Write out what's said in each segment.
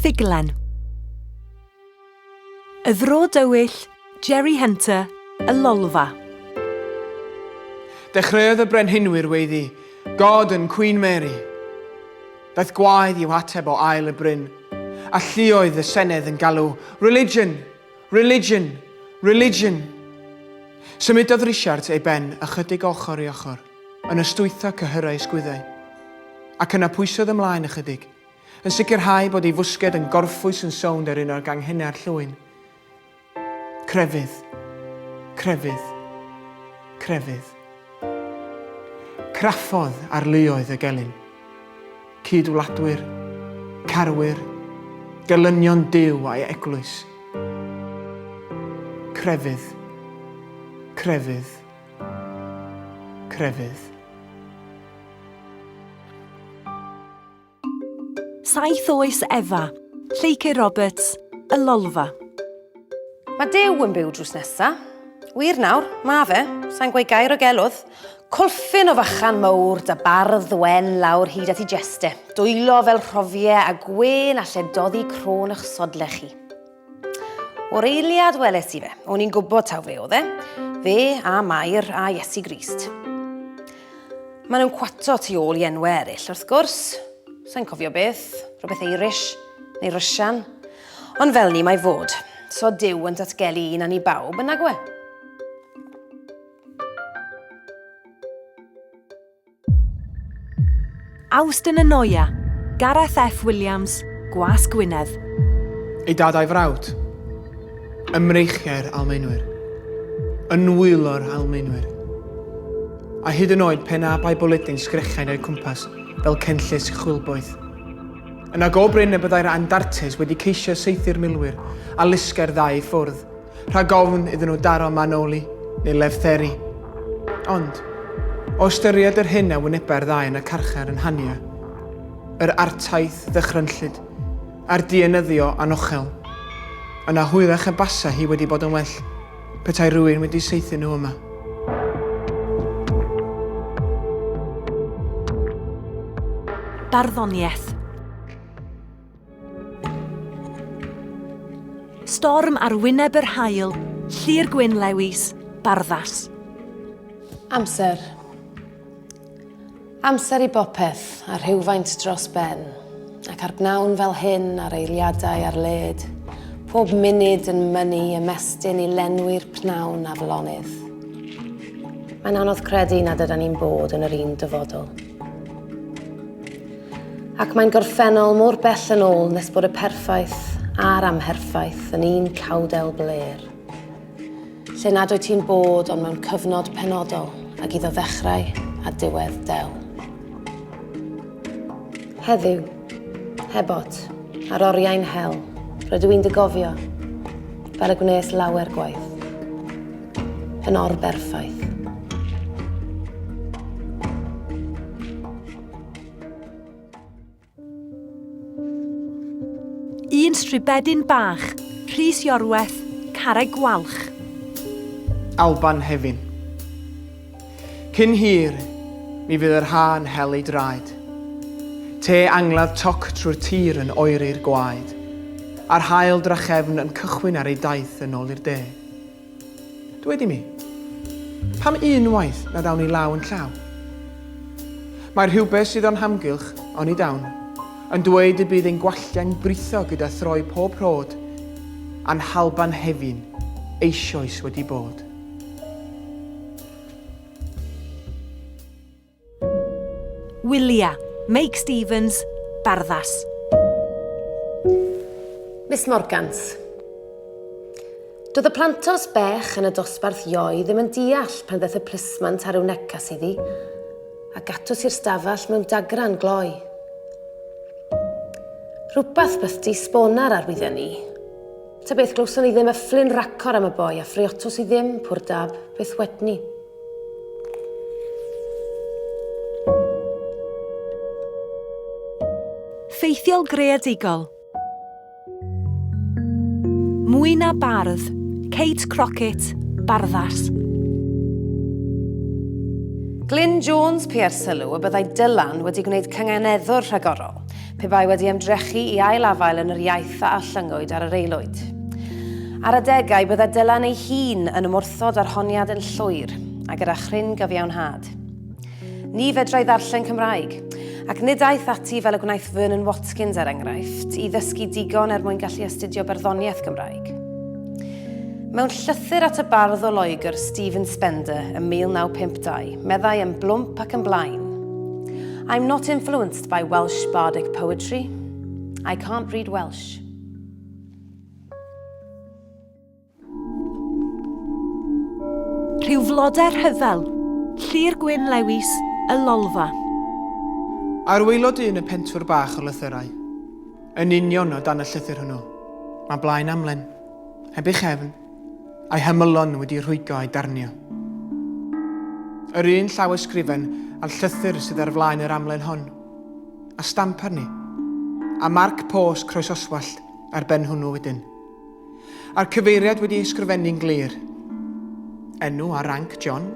Ffuglen Y Fro Dywyll, Jerry Hunter, y Lolfa. Dechreuodd y brenhinwyr weiddi, God and Queen Mary. Daeth gwaedd i'w hateb o ail y bryn, a llioedd y senedd yn galw, Religion! Religion! Religion! Symudodd Risiart ei ben ychydig ochr i ochr, yn ystwytho cyhyrau ysgwyddau. Ac yna pwysodd ymlaen ychydig, yn sicrhau bod ei fwsged yn gorffwys yn sownd ar un o'r ganghenau'r llwyn. Crefydd. Crefydd. Crefydd. Craffodd ar luoedd y gelyn. Cyd-wladwyr, carwyr, gelynion Duw a'i Eglwys. Crefydd. Crefydd. Crefydd. 7 Oes Efa, Lleucu Roberts, Y Lolfa. Mae Duw yn byw drws nesa. Wir nawr, mae fe. Sa'n gweud gair o gelwdd. Colfyn o fachan mowr, da bardd wen lawr hyd at i jeste, dwylo fel rhofie a gwên alle doddi crôn ych sodle chi. O'r eiliad weles i fe, o'n i'n gwybod taw fe oedd e, fe a Mair a Iesu Grist. Mae nhw'n cwato tu ôl i enwau eraill, wrth gwrs. Sa'n cofio beth, rhywbeth Eirish, neu Rysian. Ond fel ni mae fod, so Dyw yn datgelu un a ni bawb yn nagwe. Awst yn y Noia, Gareth F Williams, Gwas Gwynedd. Ei dad a'i frawd. Ymreichiau'r Almaenwyr. Yn nwylo'r Almaenwyr. A hyd yn oed pen a bai bwledyn sgrechain o'i cwmpas fel cenllysg chwilboeth. Yna go brin y byddai'r Andartes wedi ceisio saethu'r milwyr a lusgau'r ddau ffwrdd rhag ofn iddyn nhw daro manoli neu lefteri. Ond, o ystyried yr hyn a wynebau'r ddau yn y carchar yn Hania, yr artaith ddychrynllyd a'r dienyddio anochel, yna hwyrach y basa hi wedi bod yn well petai rhywun wedi saethu nhw yma. Barddoniaeth. Storm ar wyneb yr haul, Llyr Gwyn Lewis, Barddas. Amser. Amser i bopeth, a rhywfaint dros ben, ac ar bnawn fel hyn ar eiliadau ar led, pob munud yn mynnu ymestyn i lenwi'r pnawn aflonydd. Mae'n anodd credu nad yda ni'n bod yn yr un dyfodol. Ac mae'n gorffennol mor bell yn ôl nes bod y perffaith a'r amherffaith yn un cawdel bler. Lle nad wyt ti'n bod ond mewn cyfnod penodol ag iddo ddechrau a diwedd del. Heddiw, hebot, ar oriau'n hel, rydw i'n dy gofio, fel y gwnes lawer gwaith. Yn orberffaith. Un stribedyn bach, Rhys Iorwerth, Carreg Gwalch. Alban Hefin. Cyn hir, mi fydd yr ha'n hel ei draed. Te angladd toc trwy'r tir yn oeri'r gwaed, a'r hael drachefn yn cychwyn ar ei daith yn ôl i'r de. Dwed i mi, pam unwaith nad awn ni law yn llaw? Mae rhywbeth sydd o'n hamgylch, oni dawn, yn dweud y bydd ein gwalltie'n britho gyda throi pob rhod, a'n halban hefi'n eisioes wedi bod. Wylia, Meic Stevens, Barddas. Miss Morgans. Doedd y plantos bech yn y dosbarth ioi ddim yn deall pan ddaeth y plismant ar yw necas iddi, a gatws i'r stafell mewn dagran gloi. Rhywbeth bythdi sbonar ar wydden ni. Ta beth, glywson ni ddim y fflin racor am y boi a ffriotos i ddim, pwr dab, beth wedni. Ffeithiol greadigol. Mwy na bardd, Kate Crockett, barddas. Glyn Jones PR sylw y byddai Dylan wedi gwneud cynganeddwr rhagorol. Pe bai wedi ymdrechu i ail-afael yn yr iaith a allyngwyd ar yr aelwyd. Ar adegau, bydda Dylan ei hun yn ymwrthod â'r honiad yn llwyr, a gyda chryn gyfiawnhad. Ni fedrai ddarllen Cymraeg, ac nid aeth ati fel y gwnaeth Vernon Watkins, er enghraifft, i ddysgu digon er mwyn gallu astudio barddoniaeth Gymraeg. Mewn llythyr at y bardd o Loegr, Stephen Spender, ym 1952, meddai yn blwmp ac yn blaen, I'm not influenced By Welsh Bardic Poetry. I can't read Welsh. Rhyw flodau rhyfel, llir gwyn lewis, y lolfa. A'r waelod un y pentwr bach o lythyrau. Yn union o dan y llythyr hwnnw. Mae blaen amlen, heb ei chefn, a'i hymylon wedi rhwygo a'i darnio. Yr un llawysgrifen a'r llythyr sydd ar flaen yr amlen hon, a stamp arni, a marc pôs croesoswallt ar ben hwnnw wedyn. A'r cyfeiriad wedi ei sgrifennu'n glir. Enw a ranc John?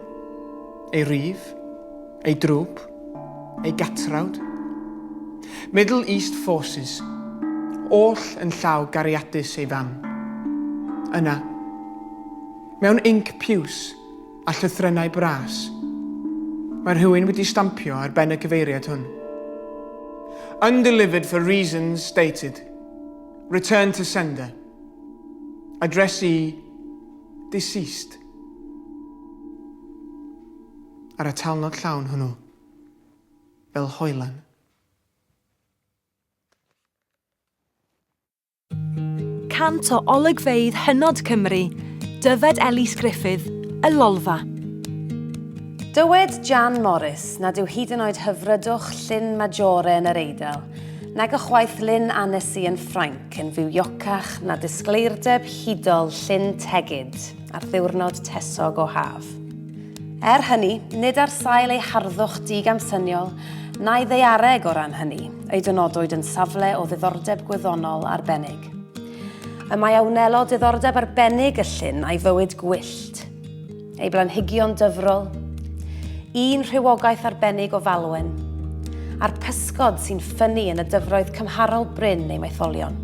Ei rif? Ei drwp? Ei gatrawd? Middle East Forces, oll yn llaw gariadus ei fam. Yna, mewn inc piws a llythrennau bras, mae rhywun wedi stampio ar ben y cyfeiriad hwn. Undelivered for reasons stated. Return to sender. Addressee deceased. ar y talnod llawn hwnnw, fel hoelan. Cant o olygfeydd hynod Cymru, dyfed Elis Gruffydd, y Lolfa. Dywed Jan Morris nad yw hyd yn oed hyfrydwch Llyn Majore yn yr Eidal, nag ychwaith Lyn Annecy yn Ffrainc yn fywiocach na disgleirdeb hudol Llyn Tegid ar ddiwrnod tesog o haf. Er hynny, nid ar sail ei harddwch digamsyniol na'i ddaeareg o ran hynny ei dynodwyd yn safle o ddiddordeb gwyddonol arbennig. Y mae a wnelo diddordeb arbennig y llyn a'i fywyd gwyllt, ei blanhigion dyfrol, un rhywogaeth arbennig o falwen, a'r pysgod sy'n ffynnu yn y dyfroedd cymharol brin ei maetholion.